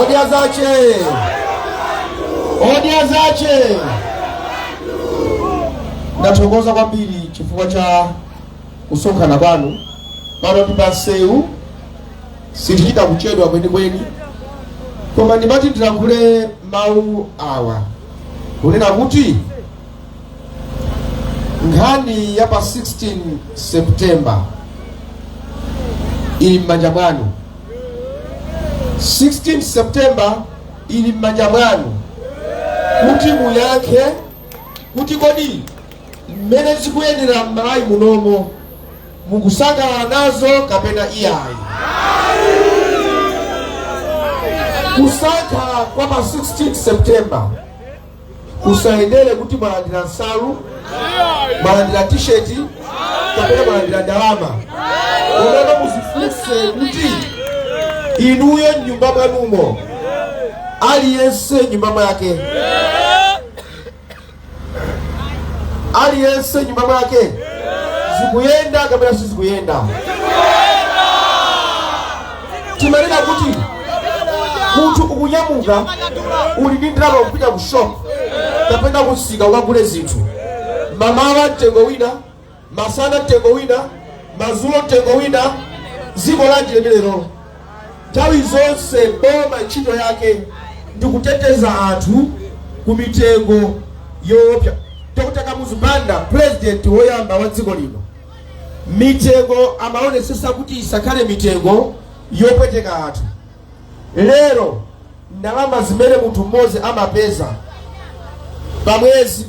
Odya zake! Odya zake! Ndathokoza kwambiri chifukwa cha kusonkhana kwanu. Pano ndi pa msewu, sitichita kuchedwa kwenikweni, koma ndimati ndilankhule mawu awa kunena kuti nkhani ya pa 16 September ili m'manja mwanu. 16 September ili m'manja mwanu kuti muyankhe kuti kodi mmene zikuyendera mmalawi munomo mukusangalala nazo kapena iyayi kusankha kwa pa 16 september kusayendere kuti mwalandira nsalu mwalandira tisheti kapena mwalandira ndalama onani muzifunse kuti inuyo mnyumba mwanumo aliyense mnyumba mwake aliyense mnyumba mwake zikuyenda kapena sizikuyenda timanena kuti munthu ukunyamuka uli ndi ndalama kupita ku shop kapena kumsika ukagule zinthu mamawa mtengo wina masana mtengo wina madzulo mtengo wina dziko lanji limenelo nthawi zonse boma ntchito yake ndi kuteteza anthu ku mitengo yoopsa dr kamuzu banda purezidenti woyamba wa dziko lino mitengo amaonesesa kuti isakhale mitengo yopweteka anthu lero ndalama zimene munthu mmodzi amapeza pamwezi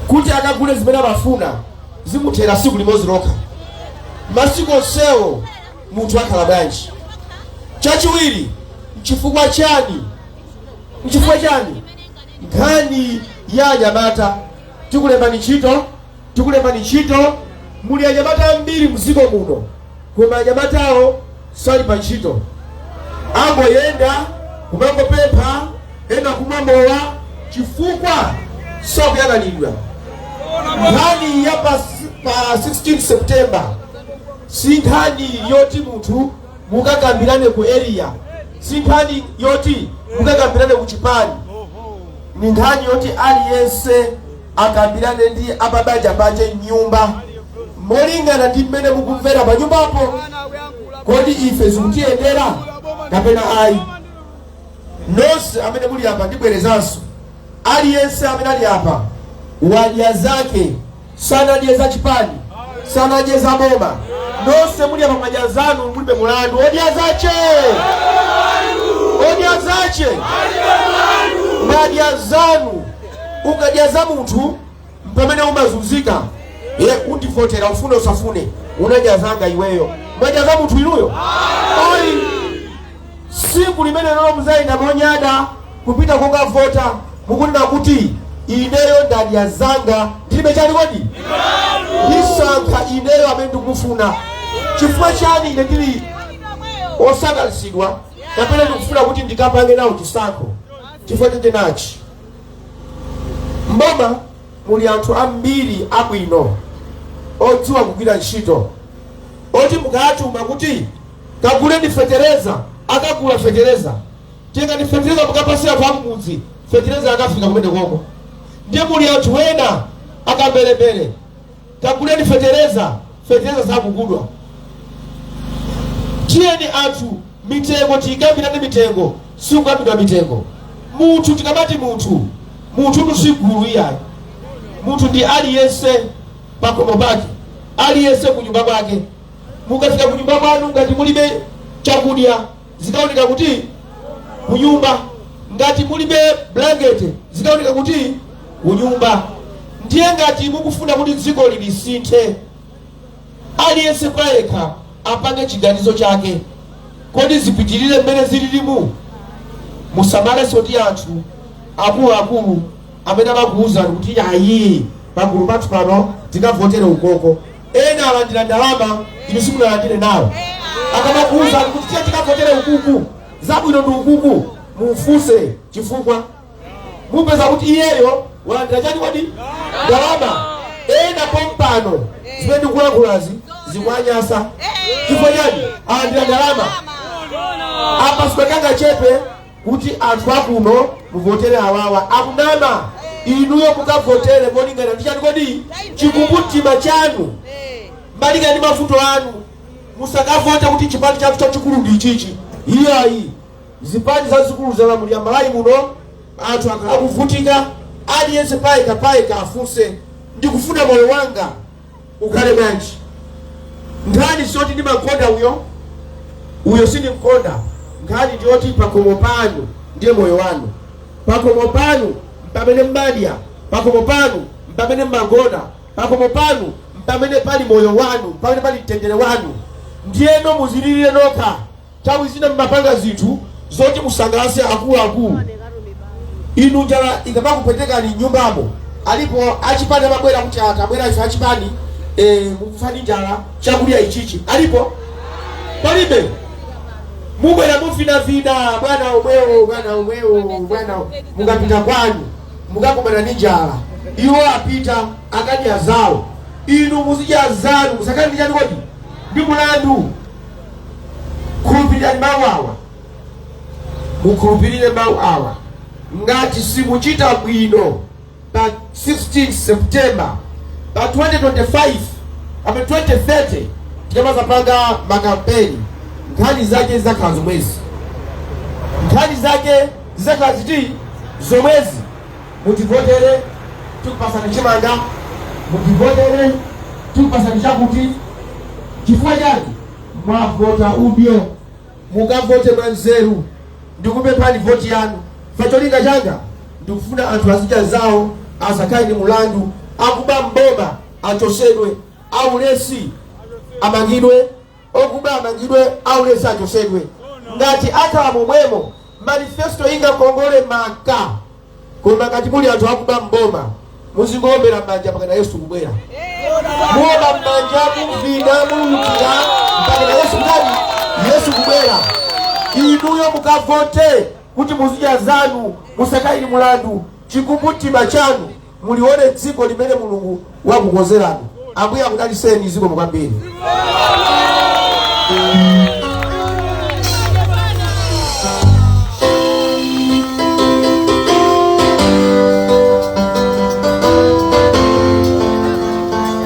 kuti akagule zimene amafuna zikuthera siku limodzi lokha masiku onsewo munthu akhala bwanji chachiwiri mchifukwa chani mchifukwa chani nkhani ya anyamata tikulembani ntchito tikulembani ntchito. Muli anyamata ambiri mdziko muno koma anyamatawo sali pa ntchito, amangoyenda kumangopempha, ena kumwa mowa chifukwa sakuyang'anidwa. Nkhani ya pa, pa 16 September si nkhani yoti munthu mukakambirane ku area, si nkhani yoti mukakambirane ku chipani, ni nkhani yoti aliyense akambirane ndi a pabanja pace m'nyumba molingana ndi mmene mukumvera panyumbapo. Kodi ife zikutiyendera kapena ayi? Nonse amene muli apa ndibwerezanso, aliyense amene ali apa wadya zake, sanadye za chipani, sanadye za boma. Nonse muli apa mwadya zanu, mulibe mulandu. Odya zace, odya zace, mwadya zanu. ukadya za munthu mpamene umazunzika eee undivotera ufune usafune unadya zanga iweyo mwadya za munthu inuyo ayi siku limenelo muzayenda monyada kupita kokavota mukunena kuti ineyo ndadya zanga ndilibe chani kodi ndisankha ineyo amene ndikufuna chifukwa chani ine ndili wosangalatsidwa kapena ndikufuna kuti ndikapange nawo chisankho chifukwa chete nachi M'boma muli anthu ambiri abwino odziwa kugwira ntchito oti mukawatuma kuti kaguleni fetereza akagula fetereza tengani fetereza mukapatsire anthu akumudzi fetereza akafika kumene komko ndiye muli anthu ena akambelembele Kaguleni fetereza, fetereza sakugulidwa. Tiyeni anthu mitengo tikambirane mitengo sikukambidwa mitengo. Munthu tikamati munthu, munthutu si gulu iyayi. Munthu ndi aliyense pakhomo pake, aliyense kunyumba kwake. Mukafika kunyumba kwanu ngati mulibe chakudya zikaoneka kuti kunyumba ngati mulibe blanket zikaoneka kuti kunyumba ndiye ngati mukufuna kuti dziko lisinthe aliyense payekha apange chiganizo chake kodi zipitirire mmene zililimu musamalenso kuti anthu akuluakulu amene amakuwuzani kuti ayi pagulu pathu pano tikavotere ukoko Ena alandira ndalama inu simunalandire nawo. Akamakuwuzani kuti tiye tikavotere ukuku zabwino ndi ukuku mumfunse chifukwa mupeza kuti iyeyo walandira chani kodi ndalama. Ena pompano zimene ndikulankhulazi zikuwanyasa chifukwa chani alandira ndalama apa sikakanga chepe kuti anthu akuno muvotere awawa akunama inuyo mukavotere molingana ndi chani kodi chikumbumtima chanu malingana ndi mavuto anu musakavote kuti chipani chathu chachikulu ndi ichichi iyayi zipani zazikulu zalamulira Malawi muno anthu akhala akuvutika aliyense payekha payekha afunse ndikufuna moyo wanga ukhale bwanji nkhani si yoti ndimakonda uyo uyo sindimkonda nkhani ndi yoti pakhomo panu ndiye moyo wanu pakhomo panu mpamene mmadya pakhomo panu mpamene mmagona pakhomo panu mpamene pali moyo wanu mpamene pali mtendere wanu ndiyeno muzilirire nokha Nthawi zina mumapanga zinthu zoti musangalatse akuluakulu. Inu njala ikamakupwetekani m'nyumbamo, alipo achipani amabwera kuti, ah, tabwera ife achipani, eh, mukufa ndi njala, chakudya ichichi. Alipo? Palibe? Mubwera muvinavina, bwana omwewo, bwana omwewo, mukapita kwanu mukakumana ndi njala, iwo apita akudya zawo, inu muzidya zanu, musakhale ndi chani kodi ndi mulandu. khulupirirani mawu awa mukhulupirire mawu awa ngati simuchita bwino pa 16 september pa 2025 apa 2030 tikamadzapanga makampeni nkhani zake zidzakhala zomwezi nkhani zake zidzakhala ziti zomwezi mutivotere tikupasani chimanga mutivotere tikupasani chakuti chifukwa chani mwavota udyo mukavote mwa nzeru ndikupemphani voti yanu cholinga changa ndikufuna anthu azidya zawo asakhale ndi mulandu akuba m'boma achotsedwe aulesi amangidwe Okuba amangidwe, aulesi achotsedwe. Ngati akhala momwemo manifesto ingakongole maka. Koma ngati muli anthu akuba m'boma, muzingoombera mmanja mpakana Yesu kubwera. Muomba mmanja muvina mululutira mpakana Yesu kudali Yesu kubwera. Inuyo mukavote kuti muzidya zanu musakhale ndi mulandu chikumbumtima chanu mulione dziko limene mulungu wakukonzerani ambuye akudaliseni zikomo kwambiri